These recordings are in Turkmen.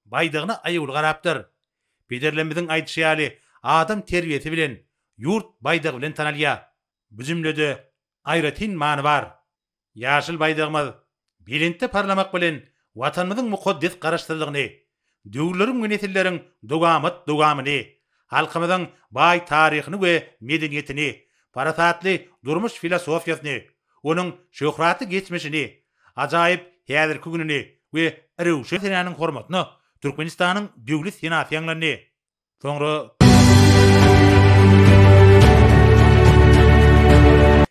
baýdagyna aýawly garapdyr. Pederlerimiziň aýdyşy ýaly, adam terbiýesi bilen, ýurt baýdagy bilen tanalýar. Bu jümlede aýratyn many bar. Ýaşyl baýdagymyz belentde parlamak bilen, Watanymyzyň mukaddes Garaşsyzlygyny, döwürleriň we nesilleriň dowamat-dowamyny, halkymyzyň baý taryhyny we medeniýetini, parasatly durmuş filosofiýasyny, onuň şöhratly geçmişini, Ajaýyp häzirki gününi we Röwşen senäniň hormatyna Türkmenistanyň Döwlet senasy ýaňlandy. Soňra.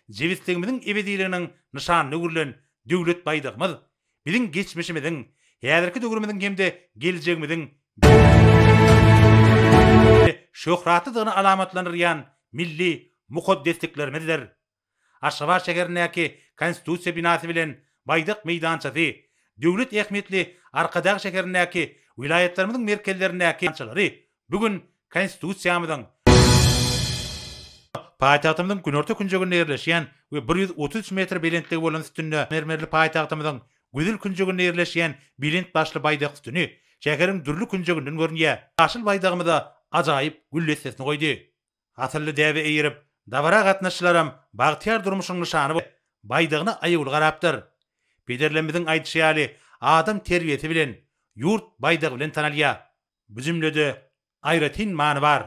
Jebisligimiziň ebediliginiň nyşanyna öwrülen Döwlet baýdagymyz biziň geçmişimiziň, häzirki döwrümiziň hem-de geljegimiziň şöhratlydygyny alamatlandyrýan milli mukaddesliklerimizdir. Aşgabat şäherindäki Konstitusiýa binasy bilen Baýdak meýdançasy, döwlet ähmiýetli Arkadag şäherindäki welaýatlarymyzyň merkezlerindäki meýdançalary bu gün Konstitusiýamyzyň, paýtagtymyzyň günorta künjeginde ýerleşýän we bir ýüz otuz üç metr belentligi bolan sütünde mermerli paýtagtymyzyň güzül künjeginde ýerleşýän belent başly Baýdak sütüni şäheriň dürli künjeginden görünýär. Ýaşyl Baýdagymyza ajaýyp gül dessesini goýdy. Asylly däbe eýerip, dabara gatnaşyşlaram bagtyýar durmuşyň nyşany bolup, baýdagyna aýawly garapdyr. Pederlerimiziň aýdyşy ýaly, adam terbiýesi bilen, ýurt baýdagy bilen tanalýar. Bu jümlede aýratyn many bar.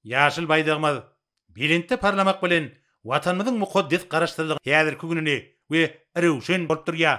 Ýaşyl baýdagymyz belentde parlamak bilen, Watanymyzyň mukaddes Garaşsyzlygynyň häzirki gününi we röwşen bolup durýar.